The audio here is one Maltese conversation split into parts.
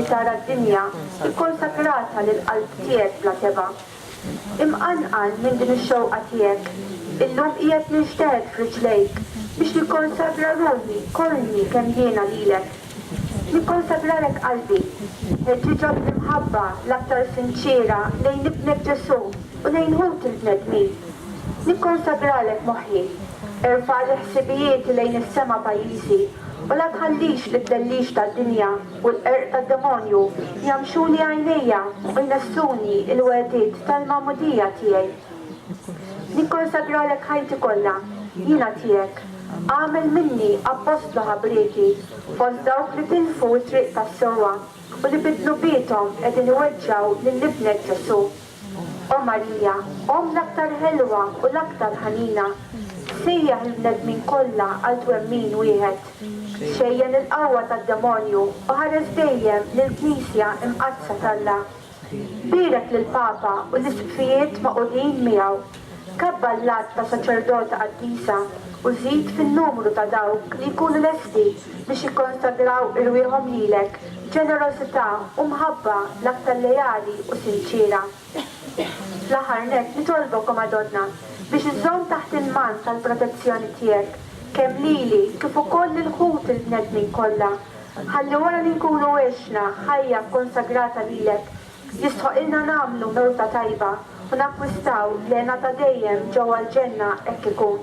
tara d-dinja ikkonsagrata lill-qalb tiegħek bla tebgħa. Imqanqal minn din ix-xewqa tiegħek, illum qiegħed ninxteħet f'riġlejk biex nikkonsagra ruħi kollni kemm jiena lilek. Nikkonsagralek qalbi, ħeġġiġa bl-imħabba l-aktar sinċiera lejn Ibnek Ġesù u lejn ħuti l-bnedmin. Nikkonsagralek moħħi, erfagħli ħsibijieti lejn is-sema pajjiżi u la tħallix li t-tlellix tad-dinja u l-qerq tad-demonju jgħammxuli għajnejja u jnessuni l-wegħdiet tal-magħmudija tiegħi. Nikkonsagralek ħajti kollha, jiena tiegħek, agħmel minni appostlu ħabrieki fost dawk li tilfu t-triq tas-sewwa u li bid-dnubiethom qegħdin iweġġgħu lil Ibnek Ġesù. O Marija, Omm l-aktar ħelwa u l-aktar ħanina, ssejjaħ il-bnedmin kollha għal twemmin wieħed. Xejjen il-qawwa tad-demonju u ħares dejjem lill-Knisja Imqaddsa t'Alla. Bierek lill-Papa u l-Isqfijiet magħqudin miegħu. Kabbar l-għadd ta' saċerdota qaddisa u żid fin-numru ta' dawk li jkunu lesti biex jikkonsagraw irwieħhom lilek b'ġenerożità u mħabba l-aktar leali u sinċiera. Fl-aħħar nett nitolbok, O Madonna, biex iżżomm taħt il-mann tal-protezzjoni tiegħek kemm lili kif ukoll lil ħuti l-bnedmin kollha, ħalli wara li nkunu għexna ħajja kkonsagrata lilek Jistħoqilna nagħmlu mewta tajba u nakkwistaw l-hena ta' dejjem ġewwa l-ġenna hekk ikun.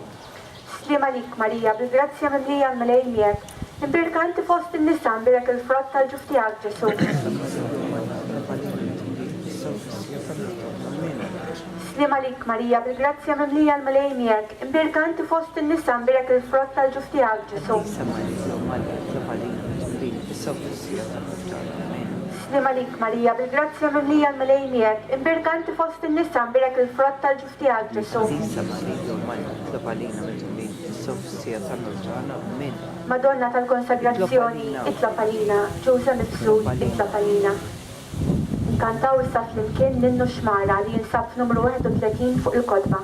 Sliem għalik Marija bil-grazzja mimlija l-Mulej miegħek, imbierka inti fost in-nisa imbierek il-frott tal-ġuf tiegħek Ġesù. Sliem għalik Marija bil-grazzja mimlija l-Mulej miegħek, imbierka inti fost in-nisa imbierek il-frott tal-ġuf tiegħek Ġesù. Sliem għalik Marija bil-grazzja mimlija l-Mulej miegħek, imbierka inti fost in-nisa, imbierek il-frott tal-ġuf tiegħek Ġesù. L-Għażiża Marija Omm Alla, itlob għalina mitħulin fis-sofsija tal-Mewt tagħna. Min. Madonna tal-Konsagrazzjoni, itlob għalina, Ġużè Mifsud, itlob għalina. Nkantaw issa flimkien l-Innu x-Xmara li jinsab f'numru 31 fuq il-kotba.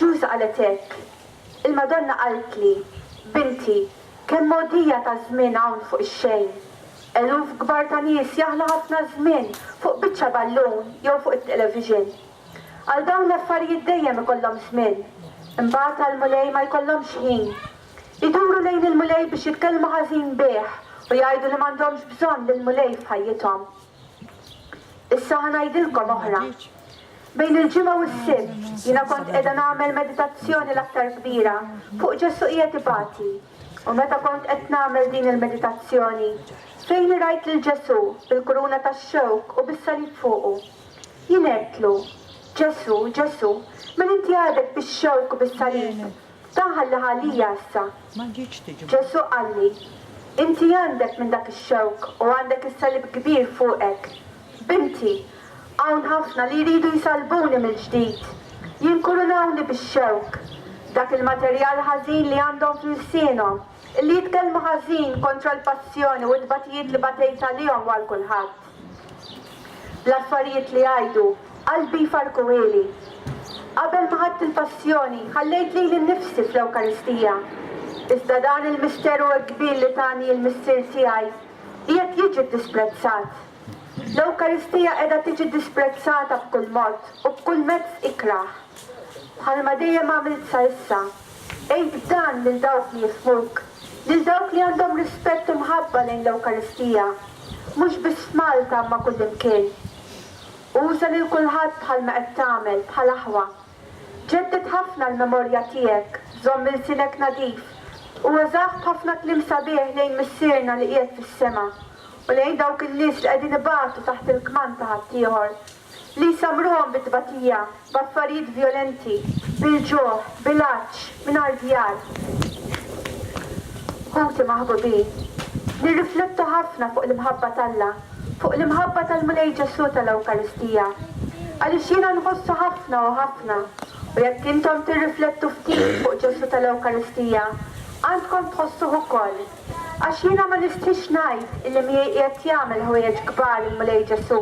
Ġuż qalet hekk, Il-Madonna qaltli, 'Binti, kemm mogħdija ta' żmien hawn fuq ix-xejn. Eluf kbar ta' nies jaħlu ħafna żmien fuq biċċa ballun jew fuq it-television. Għal dawn l-affarijiet dejjem ikollhom żmien. Imbagħad għall-Mulej ma jkollhomx ħin. Iduru lejn il-Mulej biex jitkellmu ħażin bih u jgħidu li m'għandhomx bżonn lill-Mulej f'ħajjithom. Issa ħa ngħidilkom oħra. Bejn il-Ġimgħa u s-Sibt jiena kont qiegħda nagħmel meditazzjoni l-aktar kbira fuq Ġesù qiegħed ibati. U meta kont qed nagħmel din il-meditazzjoni, fejni rajt lil Ġesù bil-kuruna tax-xewk u bis-salib fuqu. Jien għedtlu, Ġesù, Ġesù, min inti għadek bix-xewk u bis-salib? Ta' ħalli ħalija issa. Ġesù qalli, Inti għandek minn dak ix-xewk u għandek is-salib kbir fuqek. Binti, hawn ħafna li jridu jsalbuni mill-ġdid, jinkurunawni bix-xewk, dak il-materjal ħażin li għandhom f'lsienhom, illi jitkellmu ħażin kontra l-passjoni u t-tbatijiet li batejt għalihom u għal kulħadd. L-affarijiet li jgħidu qalbi jfarrkuhieli. Qabel ma ħadt il-Passjoni, ħallejt lili nnifsi fl-Ewkaristija. Iżda dan il-misteru hekk kbir li tani l-Missier tiegħi, qiegħed jiġi ddisprezzat. L-Ewkaristija qiegħda tiġi ddisprezzata b'kull mod u b'kull mezz ikrah. Bħalma dejjem għamilt sa issa, Għid dan lil dawk li jifhmuk, lil dawk li għandhom rispett u mħabba lejn l-Ewkaristija, mhux biss f'Malta imma kullimkien. Uża lil kulħadd bħalma qed tagħmel, bħal aħwa. Ġedded ħafna l-memorja tiegħek, żomm ilsinek nadif, u użah b'ħafna kliem sabiħ lejn Missierna li qiegħed fis-sema, u lejn dawk in-nies li qegħdin ibatu taħt il-kmand ta' ħaddieħor. li jsammruhom bit-tbatija, b'affarijiet vjolenti, bil-ġuħ, bil-għatx, mingħajr djar. Ħuti maħbubin, nirriflettu ħafna fuq l-imħabba t'Alla, fuq l-imħabba tal-Mulej Ġesù tal-Ewkaristija, għaliex jiena nħossu ħafna u ħafna, u jekk intom tirriflettu ftit fuq Ġesù tal-Ewkaristija, għandkom tħossuh ukoll. Għax jiena ma nistriex ngħid illi miegħi qiegħed jagħmel ħwejjeġ kbar il-Mulej Ġesù.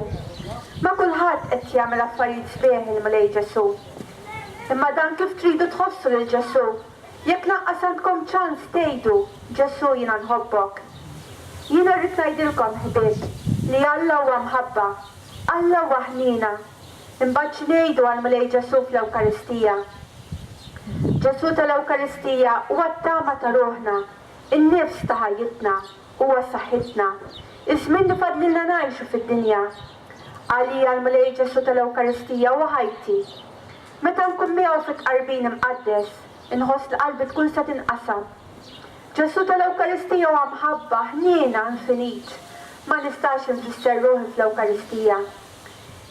Ma' kulħadd qed jagħmel affarijiet sbieħ il-Mulej Ġesù. Imma dan kif tridu tħossu lil Ġesù, jekk lanqas għandkom ċans tgħidu, Ġesù jiena nħobbok. Jiena rrid ngħidilkom, ħbieb, li Alla huwa mħabba. Alla huwa ħniena. Imbagħad x'ngħidu għall-Mulej Ġesù fl-Ewkaristija? Ġesù tal-Ewkaristija huwa t-tama ta' ruħna. In-nifs ta' ħajjitna huwa saħħitna, iż-żmien li fadlilna ngħixu fid-dinja. Għalija l-Mulej Ġesù tal-Ewkaristija huwa ħajti. Meta nkun miegħu fit-Tqarbin Imqaddes, inħoss li qalbi tkun se tinqasam. Ġesù tal-Ewkaristija huwa mħabba, ħniena, infinit. Ma nistax infisser ruħi fl-Ewkaristija.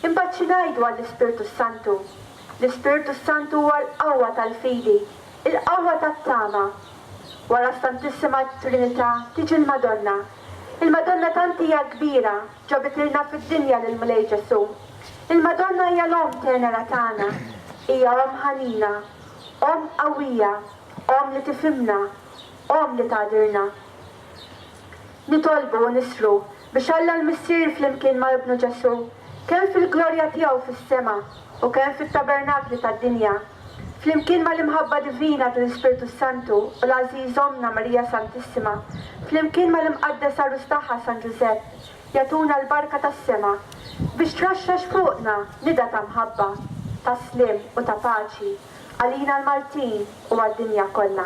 Imbagħad xi ngħidu għall-Ispirtu s-Santu? L-Ispirtu s-Santu huwa l-qawwa tal-fidi, il-qawwa tat-tama. Wara s-Santissima Trinità tiġi l-Madonna. Il-Madonna tant hija kbira, ġabitilna fid-dinja lill-Mulej Ġesù. Il-Madonna hija l-Omm tenera tagħna. Hija Omm ħanina, Omm qawwija, Omm li tifhimna, Omm li tagħdirna. Nitolbu u nislu biex Alla l-Missier flimkien ma' Ibnu Ġesù, kemm fil-glorja tiegħu fis-sema u kemm fit-tabernakli tad-dinja, flimkien mal-imħabba divina tal-Ispirtu s-Santu u l-għażiż Ommna Marija Santissima, flimkien mal-imqaddes għarus tagħha San Ġużepp, jagħtuna l-barka tas-sema biex traxxax fuqna nida ta' mħabba, ta' sliem u ta' paċi għalina l-Maltin u għad-dinja kollha.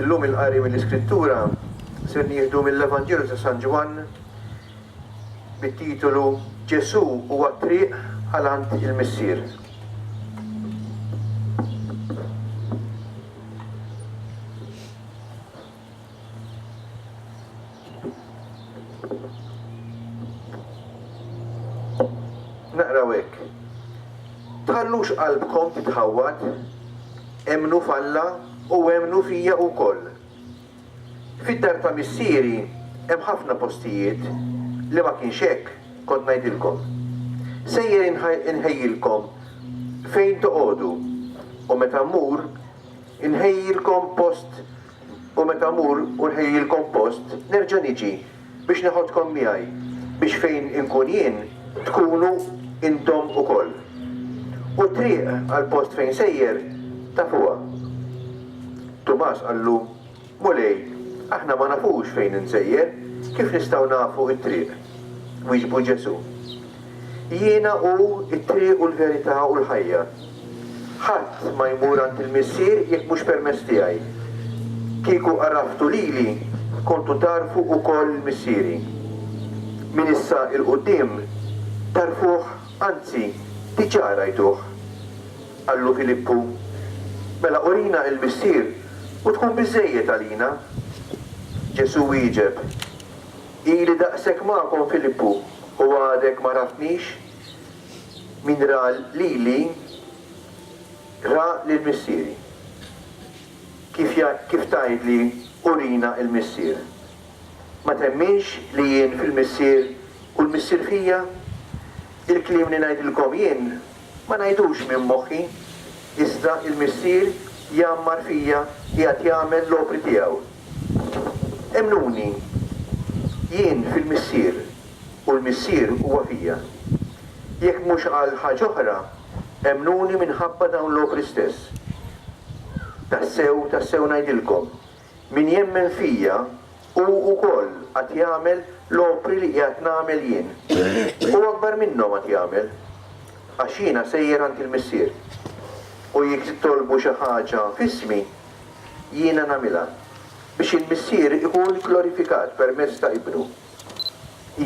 Illum il-qari mill-Iskrittura ser nieħdu mill-Evanġelju ta' San Ġwann bit-titolu Ġesù huwa t-triq għal għand il-Missier. Naqraw hekk. Tħallux qalbkom titħawwad, emmnu f'Alla u emmnu fija wkoll. Fid-dar ta' missieri hemm ħafna postijiet, li ma kienx hekk, kont ngħidilkom. Sejjer inħejjilkom fejn toqogħdu, u meta mmur, Inħejjilkom post u meta mmur u nħejjilkom post, nerġa' niġi, biex neħodkom miegħi, biex fejn inkun jien, tkunu intom ukoll. U t-triq għall-post fejn sejjer, tafuha. Tumas qallu, Mulej, aħna ma nafux fejn insejjer, kif nistgħu nafu t-triq? Wieġbu Ġesù, Jiena hu t-triq u l-verità u l-ħajja. Ħadd ma jmur għand il-Missier jekk mhux permezz tiegħi. Kieku għaraftu lili, kontu tagħrfu wkoll il-Missieri. Minn issa 'l quddiem tagħrfuh, anzi, diġà rajtuh. Qallu Filippu, Mela urina il-Missier u tkun biżżejjed għalina. Ġesù wieġeb, Ili daqshekk magħkom Filippu u għadek ma raftnix? Min ra lili, ra lil Missieri. Kif kif tgħidli, Urina il-Missier? Ma temminx li jien fil-Missier u l-Missier fija? Il-kliem li ngħidilkom jien, Ma ngħidux minn moħħi, iżda l-Missier jgħammar fija qiegħed jagħmel l-opri tiegħu. Emmnuni, jien fil-Missier u l-Missier huwa fija. Jekk mhux għal ħaġ'oħra, emmnuni minħabba dawn l-opri stess. Tassew, tassew ngħidilkom, Min jemmen fija, hu wkoll għad jagħmel l-opri li qiegħed nagħmel jien, u akbar minnhom għad jagħmel, għax jiena sejjer għand il-Missier. U jekk titolbu xi ħaġa f'ismi, jiena nagħmilha, biex il-Missier ikun glorifikat permezz ta' Ibnu.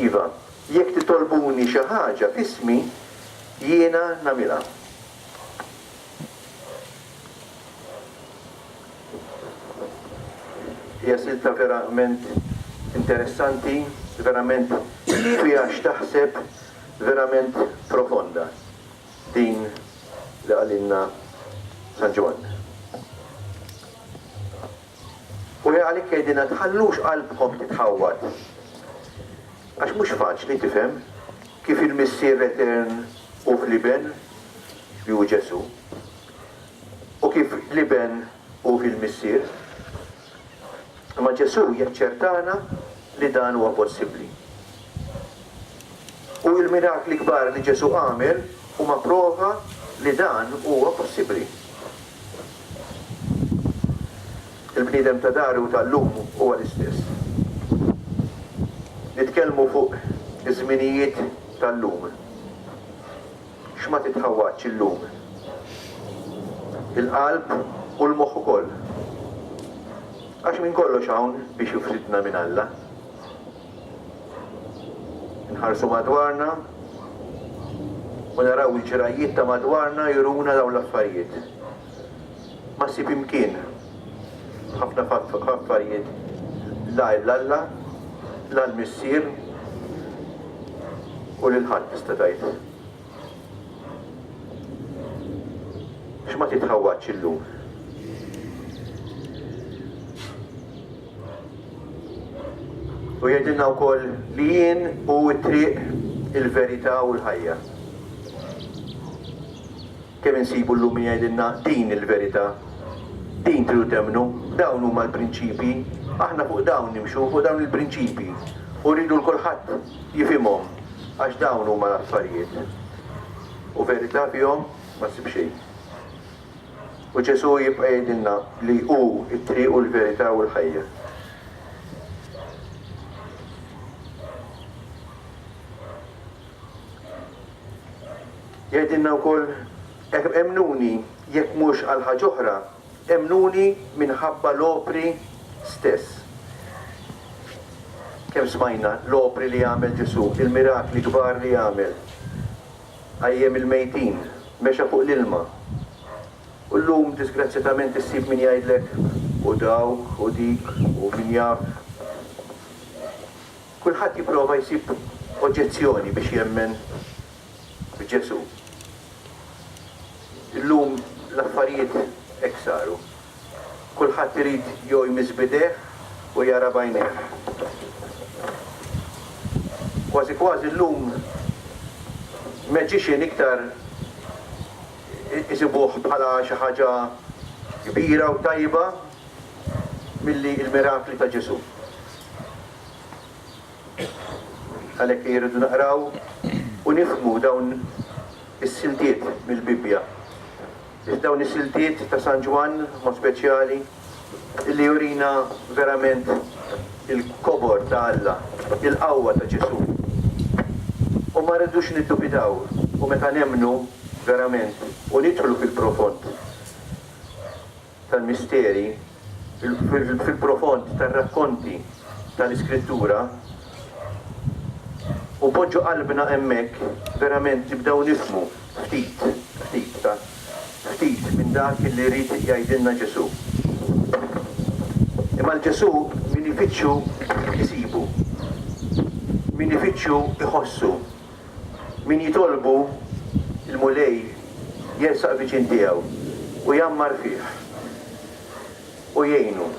Iva, jekk titolbuni xi ħaġa f'ismi, jiena nagħmilha. Hija silta verament interessanti, verament fiha x'taħseb, verament profonda din li qalilna San Ġwann. U għalhekk jgħidilna tħallux qalbkom titħawwad. Għax mhux faċli tifhem kif il-Missier Etern hu fl-Iben li hu Ġesù. u kif l-Iben hu fil-Missier. Imma Ġesù jaċċertana li dan huwa possibbli. U l-mirakli kbar li Ġesù għamel huma prova li dan huwa possibbli. Il-bniedem ta' dahru u tal-lum huwa l-istess. Nitkellmu fuq iż-żminijiet tal-lum. X'ma titħawwadx illum? Il-qalb u l-moħħ ukoll. Għax minn kollox hawn biex jufridna minn Alla. Inħarsu madwarna u naraw il-ġrajjiet ta' madwarna juruna dawn l-affarijiet. Ma ssib imkien f'ħafna f'affarijiet la għajr l-Alla, la l-missier u lil ħadd tista' tgħid. Biex ma titħawwadx illum. U jgħidilna wkoll li jien u t-triq il-verità u l-ħajja. Kemm insibu llum min jgħidilna din hi l-verità, din tridu temmnu, dawn huma l-prinċipji, aħna fuq dawn nimxu, fuq dawn il-prinċipji, u rridu 'l kulħadd jifhimhom għax dawn huma l-affarijiet. U verità fihom ma ssib xejn. U Ġesù jibqa' jgħidilna li hu t-triq u l-verità u l-ħajja. Jgħidilna wkoll, Emmnuni, jekk mhux għal ħaġa oħra, emmnuni minħabba l-opri stess. Kemm smajna l-opri li għamel Ġesù, il-mirakli kbar li għamel. Qajjem il-mejtin, mexa fuq l-ilma. U llum disgrazzjatament issib min jgħidlek, u dawk, u dik, u min jaf. Kulħadd jipprova jsib oġġezzjoni biex jemmen f'Ġesù. Illum l-affarijiet hekk saru. Kulħadd irid jew jmiss b'idejh u jara b'għajnejh. Kważi kważi llum magician iktar isibuh bħala xi ħaġa kbira u tajba milli l-mirakli ta' Ġesù. Għalhekk ejja rridu naqraw u nifhmu dawn is-siltiet mill-Bibbja. Biex dawn is-siltiet ta' San Ġwann, mod speċjali, illi jurina verament il-kobor ta' Alla, il-qawwa ta' Ġesù. U ma rridux niddubitaw, u meta nemmnu verament u nidħlu fil-profond, tal-misteri, fil-profond tar-rakkonti tal-Iskrittura, u poġġu qalbna hemmhekk, verament nibdew nifhmu ftit, ftit, ta, ftit minn dak li jrid jgħidilna Ġesù. Imma 'l Ġesù min ifittxu isibu. Min ifittxu iħossu. Min jitolbu, il-Mulej jersaq viċin tiegħu u jgħammar fih u jgħinu.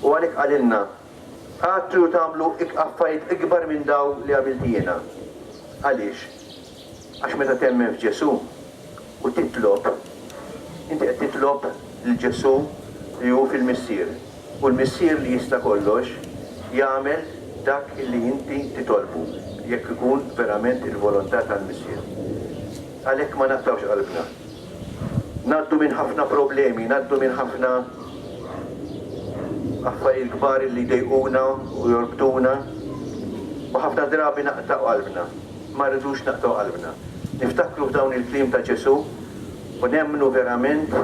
U għalhekk qalilna, Għad tridu tagħmlu affarijiet ikbar minn dawn li għamilt jiena. Għaliex? Għax meta temmen f'Ġesù, u titlob, inti qed titlob lil Ġesù li hu fil-Missier, u l-Missier li jista' kollox jagħmel dak li inti titolbu, jekk ikun verament il-volontà tal-Missier. Għalhekk ma naqtgħux qalbna. Ngħaddu minn ħafna problemi, ngħaddu minn ħafna affarijiet kbar li jdejquna u jorbtuna, u ħafna drabi naqtgħu qalbna. Ma rridux naqtgħu qalbna. Niftakru f'dawn il-kliem ta' Ġesù u nemmnu verament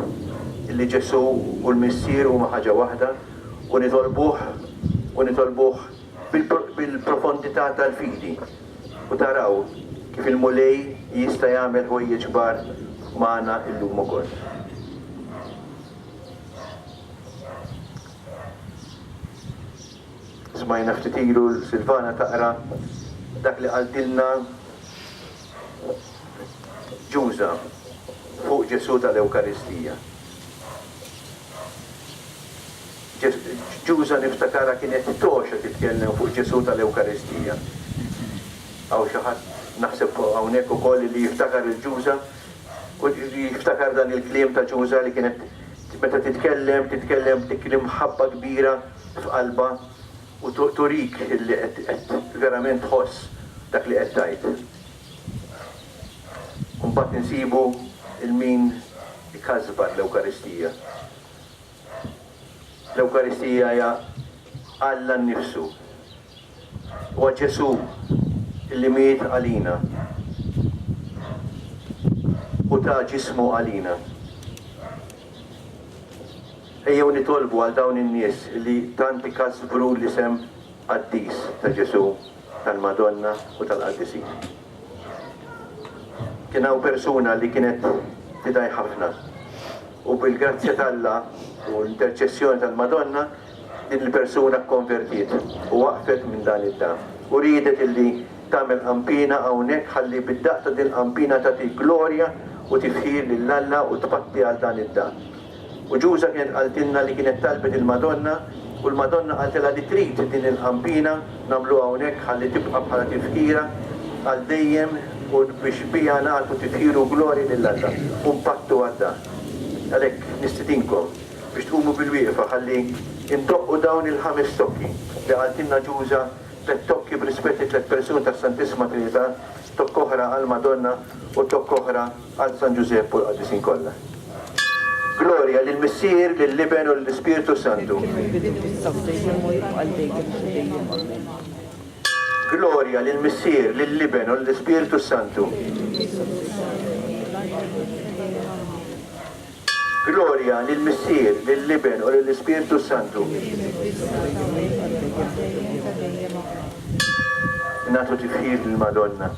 li Ġesù u l-Missier huma ħaġa waħda u nitolbuh u nitolbuh bil-profondità tal-fidi u taraw kif il-Mulej jista' jagħmel ħwejjeġ kbar magħna llum ukoll. Smajna ftit ilu lil Silvana taqra dak li qaltilna Ġuża fuq Ġesù tal-Ewkaristija. Ġuża niftakarha kienet togħxa titkellem fuq Ġesù tal-Ewkaristija. Hawn xi ħadd naħseb hawnhekk ukoll li jiftakar lil Ġuża u jiftakar dan il-kliem ta' Ġuża li kienet meta titkellem, titkellem b'dik l-imħabba kbira f'qalbha u turik illi qed qed verament tħoss dak li qed tgħid. U mbagħad insibu 'l min ikasbar l-Ewkaristija. L-Ewkaristija hija Alla nnifsu. Huwa Ġesù li miet għalina u ta ġismu għalina. Ejjew nitolbu għal dawn in-nies li tant ikażżbru l-isem qaddis ta' Ġesù, tal-Madonna u tal-qaddisin. Kien hawn persuna li kienet tidgħi ħafna u bil-grazzja t'Alla u l-interċessjoni tal-Madonna, Din il-persuna kkonvertiet u waqfet minn dan id-dam, u riedet illi tagħmel qampina hawnhekk ħalli bid-daqq ta' dil-qampina tagħti glorja u tifħir lil Alla u tpatti għal dan id-dam. U Ġuża kienet qaltilna li kienet talbet il-Madonna u l-Madonna qaltilha li trid din il-qampina nagħmluha hawnhekk ħalli tibqa' bħala tifħira għal dejjem u biex biha nagħtu tifħir u glorja lil Alla u npattu għad-dam. Għalhekk nistidinkom. biex tqumu bil-wieqfa ħalli ndoqqu dawn il-ħames tokki li qaltilna Ġuża, tlett tokki b'rispett lit-tlett persun tas-Santissima Trinità, tokka oħra għall-Madonna u tokka oħra għal San Ġużepp u l-qaddisin kollha. Glorja lill-Missier, lill-Iben u lill-Ispirtu s-Santu. Glorja lill-Missier, lill-Iben u lill-Ispirtu s-Santu. Glorja lill-Missier, lill-Iben u lill-Ispirtu s-Santu. Nagħtu tifħir lill-Madonna.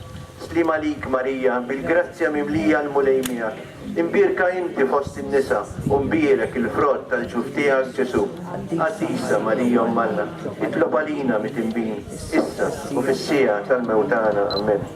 Sliem għalik Marija, bil-grazzja mimlija l-Mulej miegħek. Imbierka inti fost in-nisa u mbierek il-frott tal-ġuf tiegħek Ġesù. Qaddisa Marija Omm Alla, itlob għalina mitinbin, issa u fis-siegħa tal-mewt tagħna. Amen.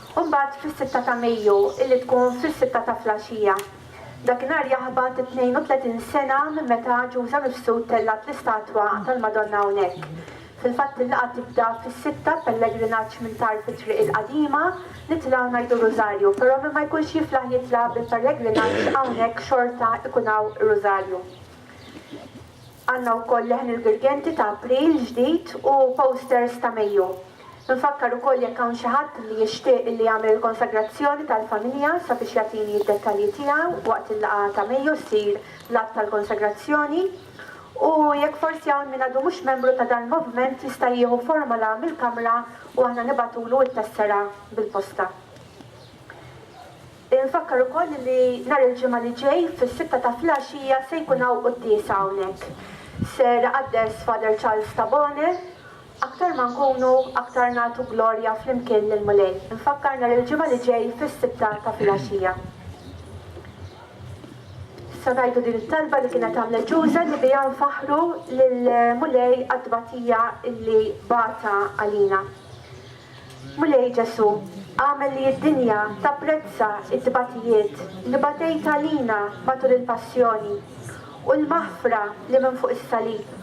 u mbagħad fis-sitta ta' Mejju illi tkun fis-sitta ta' flaxija. Dakinhar jaħbat it-tnejn u tletin sena minn meta Ġuża Mifsud tellgħet l-istatwa tal-Madonna hawnhekk. Fil-fatt il-laqgħa tibda fis-sitta b'pellegrinaġġ minn tarf it-Triq il-Qadima, nitilgħu ngħidu r-Rużarju, però min ma jkunx jiflaħ jitla' bil-pellegrinaġġ hawnhekk xorta jkun hawn ir-Rużarju. Għandna wkoll leħen il-Girgenti ta' April ġdid u posters ta' Mejju. Infakkar ukoll jekk hawn xi ħadd li jixtieq li jagħmel il-konsagrazzjoni tal-familja sabiex jagħtini d-dettalji tiegħu waqt il-laqgħa ta' Mejju ssir l-att tal-konsagrazzjoni u jekk forsi hawn min għadu mhux membru ta' dal-movement jista' jieħu formola mill-kamra u aħna nibagħtulu t-tessera bil-posta. Infakkar ukoll li nhar il-Ġimgħa li ġej fis-sitta ta' flgħaxija se jkun hawn quddiesa hawnhekk. Ser iqaddes Father Charles Tabone. Aktar ma nkunu aktar nagħtu glorja flimkien lill-Mulej. Infakkar nhar il-Ġimgħa li ġej fis-sitta ta' filgħaxija. Issa ngħidu din it-talba li kienet għamlet Ġuża li biha nfaħħru lill-Mulej għat-tbatija li bata għalina. Mulej Ġesù, agħmel li d-dinja tapprezza t-tbatijiet li batejt għalina matul il-Passjoni u l-maħfra li minn fuq is-salib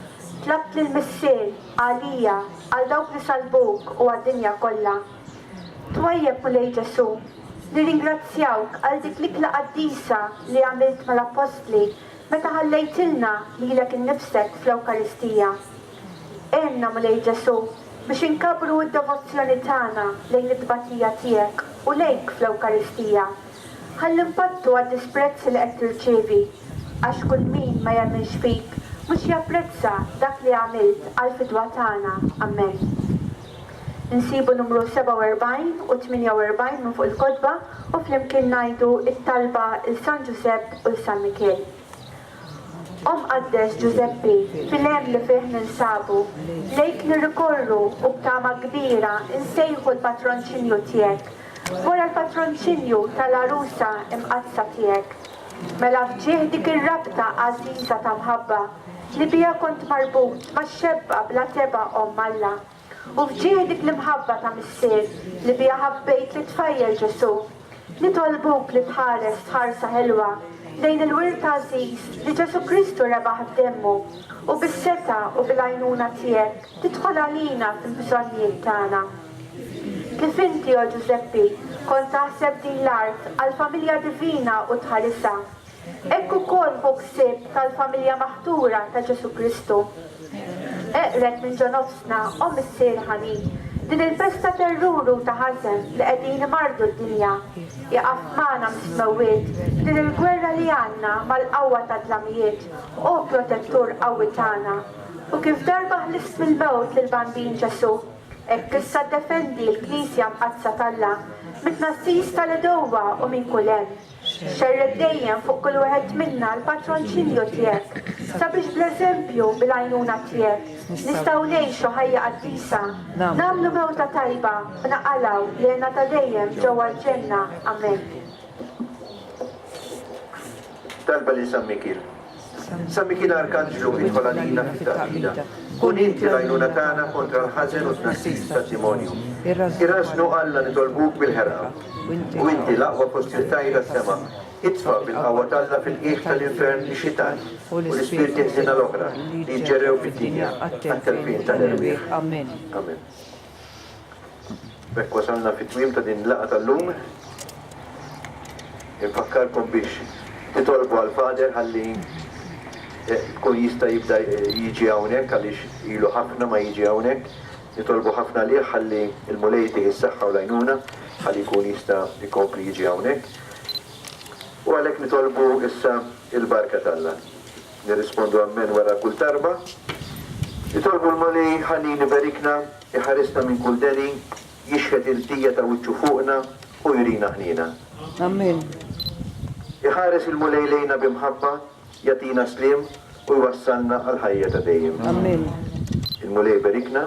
tlabt lill-Missier għalija, għal dawk li salbuk u għad-dinja kollha. Twajjeb, Mulej Ġesù, nirringrazzjawk għal dik l-ikla qaddisa li għamilt mal-Appostli meta ħallejtilna lilek innifsek fl-Ewkaristija. Għinna, Mulej Ġesù, biex inkabbru d-devozzjoni tagħna lejn it-tbatija tiegħek u lejk fl-Ewkaristija. Ħalli npattu għad-disprezz li qed tirċievi, għax kull min ma jemminx fik mhux japprezza dak li għamilt għall-fidwa tagħna. Amen. Insibu numru 47 u 48 minn fuq il-kotba u flimkien ngħidu t-talba 'l San Ġużepp u 'l San Mikiel. Omm Qaddes Ġużeppi fil-hemm li fih ninsabu, lejk nirrikorru u b'tama kbira nsejħu l-patronċinju tiegħek, wara l-patronċinju tal-Għarusa Imqaddsa tiegħek. Mela f'ġieħ dik ir-rabta għażiża ta' mħabba li biha kont marbut max-xebba bla tebgħa Omm Alla, u f'ġieħ dik l-imħabba ta' missier li biha ħabbejt lit-tfajjel Ġesù, nitolbuk li tħares ħarsa ħelwa lejn il-wirt għażiż li Ġesù Kristu rebaħ b'demmu u bis-setgħa u bil-għajnuna tiegħek tidħol għalina fil-bżonnijiet tagħna. Kif inti, o Ġużeppi, kont taħseb din l-art għall-familja divina u tħarisha, Hekk ukoll hu ħsieb tal-familja maħtura ta' Ġesù Kristu. Eqred minn ġo nofsna, o Missier ħanin, din il-festa terrur u ta' ħażen li qegħdin imarrdu d-dinja. Iqaf magħna mis-smewwiet f'din il-gwerra li għandna mal-qawwa tad-dlamijiet, o Protettur qawwi tagħna. U kif darba ħlift mill-mewt lill-Bambin Ġesù, hekk issa ddefendi l-Knisja Mqaddsa t'Alla mit-tnassis tal-għedewwa u minn kull hemm. Xerred dejjem fuq kull wieħed minna l-patroċinju tiegħek sabiex bl-eżempju u bil-għajnuna tiegħek nistgħu ngħixu ħajja qaddisa, nagħmlu mewta tajba u naqalgħu l-għena ta' dejjem ġewwa l-ġenna. Amen. Talba lil San Mikiel. San Mikil Arkanġlu idħol għalina fit-taqbida. Kun inti l-għajnuna tagħna kontra l-ħażen u t-tnassis tad-dimonju. Irrażżnu Alla nitolbuk bil-ħerqa. U inti l-aqwa kostruttajr għas-sema, itfa' bil-qawwa t'Alla fil-qiegħ tal-infern ix-xitan u l-ispirti ħżiena l-oħra li jġġerrew fid-dinja għat-telfien tal-erwieħ. Amen. B'hekk wasalna fit-tmiem ta' din il-laqgħa tal-lum. Infakkarkom biex titolbu għal Father ħalli jkun jista' jibda jiġi hawnhekk għaliex ilu ħafna ma jiġi hawnhekk. Nitolbu ħafna għalih ħalli l-Mulej jtih is-saħħa u l-għajnuna ħalli jkun jista' jkompli jiġi hawnhekk. U għalhekk nitolbu issa l-barka t'Alla. Nirrispondu Ammen wara kull talba. Nitolbu l-Mulej ħalli jniberikna, iħarisna minn kull deni, jixħet il-ħtija ta' wiċċu fuqna u jurina ħniena. Ammen. Iħares il-Mulej lejna bi mħabba, jagħtina sliem u jwassalna għall-ħajja ta' dejjem. Ammen. Il-Mulej iberikna.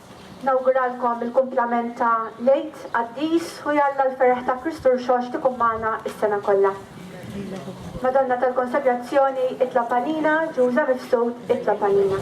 Nawguralkom il-kumplament ta' l-Għid qaddis u jalla l-ferħ ta' Kristu Rxoxt ikun magħna s-sena kollha. Madonna tal-Konsagrazzjoni itlob għalina, Ġuża Mifsud itlob għalina.